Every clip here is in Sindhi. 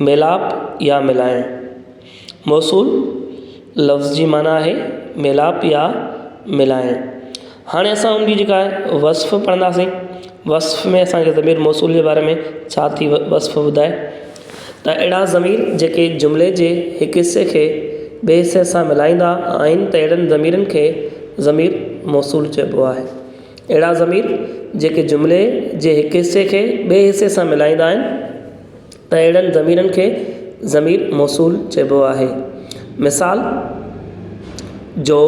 ميلاپ يا ملائڻ، موصول لفظ جي معنيٰ آهي ميلاپ يا ملائڻ. هاڻي اسان ان جي جيڪا آهي وصف پڙهنداسين. وصف ۾ اسان کي ضمير موصول جي باري ۾ ڇا ٿي وصف ٻڌائي ته اهڙا ضمير جيڪي جملي جي هڪ حصي کي ٻئي حصي سان ملائيندا آهن ته اهڙن ضميرن کي ضمير موصول چئبو آهي. اهڙا ضمير جيڪي جملي جي هڪ حصي کي ٻئي حصي سان ملائيندا آهن. اهڙن ضميرن کي ضمير موصول چئبو آهي. مثال، جو،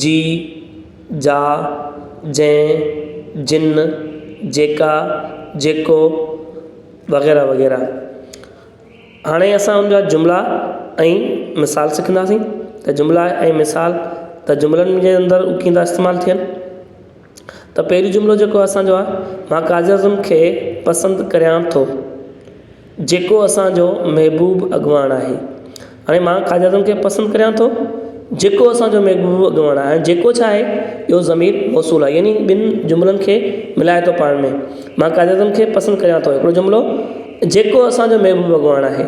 جي، جا، جنهن، جن، جيڪا، جيڪو وغيره وغيره. هاڻي اسان ان جا جملا ۽ مثال سکنداسين ته جملا ۽ مثال ته جملن جي اندر ڪيئن ٿا استعمال ٿين. ته پهريون جملو جيڪو اسانجو آ مان قائد اعظم کي پسند ڪريان ٿو جيڪو اسانجو محبوب اڳواڻ آهي هاڻي مان قائد اعظم کي پسند ڪريان ٿو جيڪو اسانجو محبوب اڳواڻ آهي جيڪو ڇا آهي اهو ضمير موصول آهي يعني ٻنهي جملن کي ملائي ٿو پاڻ ۾ مان قائد اعظم کي پسند ڪريان ٿو هڪڙو جملو جيڪو اسانجو محبوب اڳواڻ آهي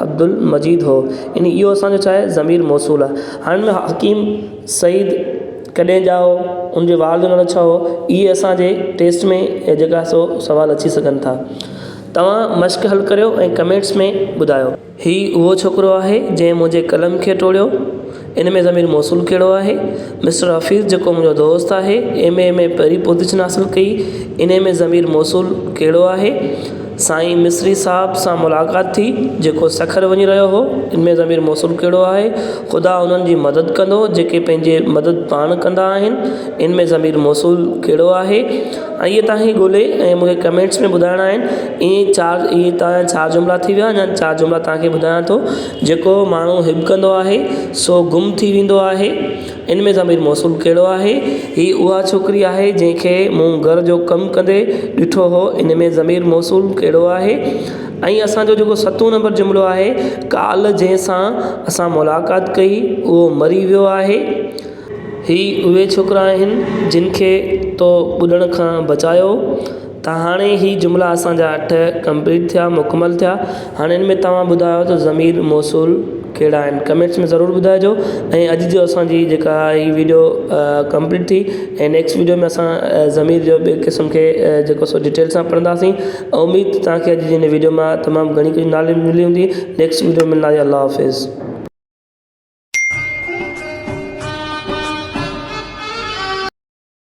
عبدالمجيد هو. يعني اهو اسان جو ڇاهي ضمير موصول آهي. هاڻي ان حڪيم سعيد ڪڏهن ڄائو هو، ان جي والد جو نالو ڇا هو، اهي اسان جي ٽيسٽ ۾ جيڪا سو سوال اچي سگهن ٿا. توهان مشق حل ڪريو ۽ ڪمينٽس ۾ ٻڌايو. هي اهو ڇوڪرو آهي جنهن منهنجي قلم کي ٽوڙيو. ان ۾ ضمير موصول ڪهڙو آهي؟ مسٽر حفيظ جيڪو منهنجو دوست آهي ايم اي ۾ پهرين پوزيشن حاصل ڪئي ان ۾ ضمير موصول ڪهڙو آهي؟ سائين مصري صاحب سان ملاقات ٿي جيڪو سکر وڃي رهيو هو ان ۾ ضمير موصول ڪهڙو آهي؟ خدا انهن جي مدد ڪندو جيڪي پنهنجي مدد پاڻ ڪندا آهن ان ۾ ضمير موصول ڪهڙو آهي؟ ائين تاهي ڳولي ۽ مون کي ڪمينٽس ۾ ٻڌائڻا آهن ايئن چار ايئن تاهي چار جملا ٿي ويا اڃا چار جملا تاهان کي ٻڌايان ٿو جيڪو ماڻهو هٻڪندو آهي، سو گم ٿي ويندو آهي. ان ۾ ضمير موصول ڪهڙو آهي؟ هي اها ڇوڪري آهي، جنهن کي مون گهر جو ڪم ڪندي ڏٺو هو. ان ۾ ضمير موصول ڪهڙو آهي؟ ۽ اسان جو جيڪو ستون نمبر جملو آهي، ڪالهه جنهن سان اسان ملاقات ڪئي، اهو مري ويو آهي. هي اهي ڇوڪرا آهن، جن کي تو ٻڏڻ کان بچايو. ته هاڻي هي جملا اسان جا اٺ ڪمپليٽ ٿيا مڪمل ٿيا هاڻي ان ۾ توهان ٻڌايو ته ضمير موصول ڪهڙا آهن ڪمينٽس ۾ ضرور ٻڌائجو ۽ اڄ جو اسان جي جيڪا هي ويڊيو ڪمپليٽ ٿي ۽ نيڪسٽ ويڊيو ۾ اسان ضمير جو ٻي قسم کي جيڪو سو ڊيٽيل سان پڙهنداسين اميد ته توهان کي اڄ جي هن ويڊيو مان تمام گهڻي ڪجهه ناليج ملي هوندي نيڪسٽ ويڊيو ۾ ملنداسين الله حافظ